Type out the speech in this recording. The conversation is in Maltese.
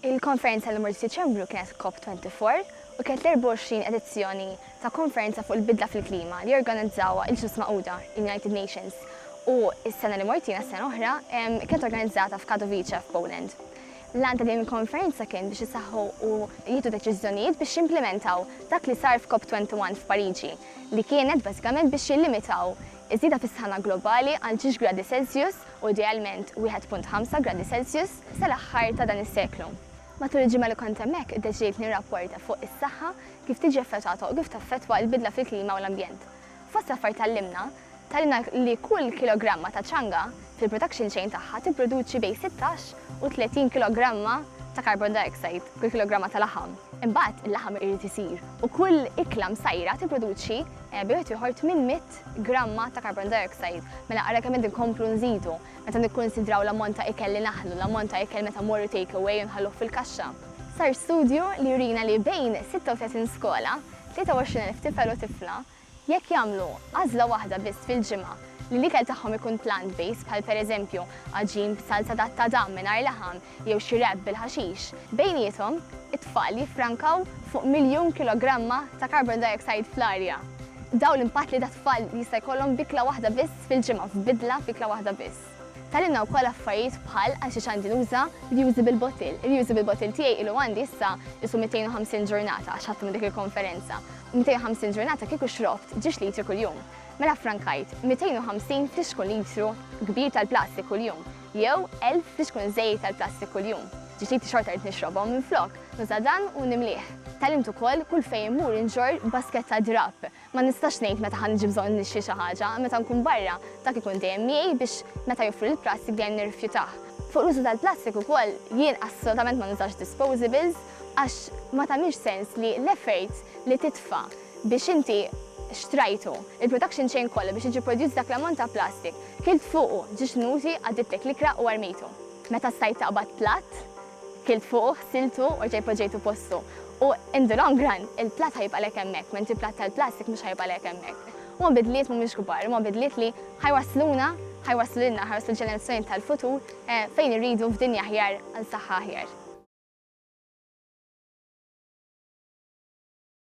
Il-konferenza li mort f'Diċembru kienet COP24 u kienet l-24 edizzjoni ta' konferenza fuq il-bidla fil-klima li organizzawha il-Ġnus Magħquda, il-United Nations, u s-sena li mort jiena s-sena l-oħra kienet organizzata f'Katowice f'Poland. L-għan ta' din il-konferenza kien biex isaħħu u jieħdu deċiżjonijiet biex jimplimentaw dak li sar f'COP21 f'Pariġi li kienet bażikament biex jillimitaw iż-żieda fis-sħana globali għal ġiex gradi Celsius u idealment 1.5 gradi Celsius. sal-aħħar ta' dan is-seklu. Matul il-ġimgħa li kont hemmhekk iddeċidejt nirrapporta fuq is-saħħa, kif tiġi effettwata u kif taffettwa l-bidla fil-klima u l-ambjent. Fost l-affarijiet tgħallimna, tgħallimna li kull kilogramma ta' ċanga fil-production chain tagħha tipproduċi bejn 16 u 30 kilogramma ta' carbon dioxide f'kull kilogramma ta' laħam. Imbagħad il-laħam irid isir u kull ikla msajra tipproduċi bejn wieħed u ieħor tmien mitt gramma ta' carbon dioxide. Mela ara kemm qed inkomplu nżidu. Meta nikkunsidraw l-ammont ta' ikel li naħlu, l-ammont ta' ikel meta mmorru take away u nħalluh fil-kaxxa. Sar studju li jurina li bejn 36 skola, 23 elf tifel u tifla, jekk jagħmlu għażla waħda biss fil-ġimgħa li l-ikel tagħhom ikun plant-based bħal pereżempju għaġin b'salza ta' tadam mingħajr laħam, jew xi rapp bil-ħaxix, bejniethom, it-tfal jiffrankaw fuq miljun kilogramma ta' carbon dioxide fl-arja. Dawn l-impatti li dat-tfal jista' jkollhom b'ikla waħda biss fil-ġimgħa, f'bidla f'ikla waħda biss. Tgħallimna wkoll affarijiet bħal għal xiex għandi nuża reusable bottle. Ir-reusable bottle tiegħi ilu għandi issa qisu 250 ġurnata għax ħadtu minn dik il-konferenza. 250 ġurnata kieku xrobt ġiex litri kuljum. Mela ffrankajt 250 f'lixkun litru kbir tal-plastik kuljum. Jew elf biex tkun żejjed tal-plastik kuljum. Ġifieri xorta rrid nixrobhom, minflok, nuża' dan u nimlieh. Tgħallimt ukoll kulh fejn immur inġorr basket ta' drapp. Ma nistax ngħid meta ħa niġi bżonn nixtri xi ħaġa, meta nkun barra, dak ikun dejjem miegħi biex meta joffru l-plastik dejjem nirrifjutah. Fuq l-użu tal-plastik ukoll, jien assolutament ma nużax disposables għax ma tagħmilx sens li l-effort li titfa' biex inti xtrajtu, il-production chain kollha biex jiġi prodjust dak l-ammont ta' plastik, kilt fuqu, ġie xnużi, għaddidtlek l-ikra u armejtu. Meta stajt taqbad platt, kilt fuqu, ħsiltu u rġajt poġġejtu postu. U in the long run, il-platt ħa jibqalek hemmhekk, mentri platt tal-plastik mhux ħa jibqalek hemmhekk. Huma bidliet mhumiex kbar, huma bidliet li ħa jwassluna, ħa jwasslu lilna, ħa jwasslu l-ġenerazzjonijiet tal-futur fejn irridu f'dinja aħjar għal saħħa aħjar.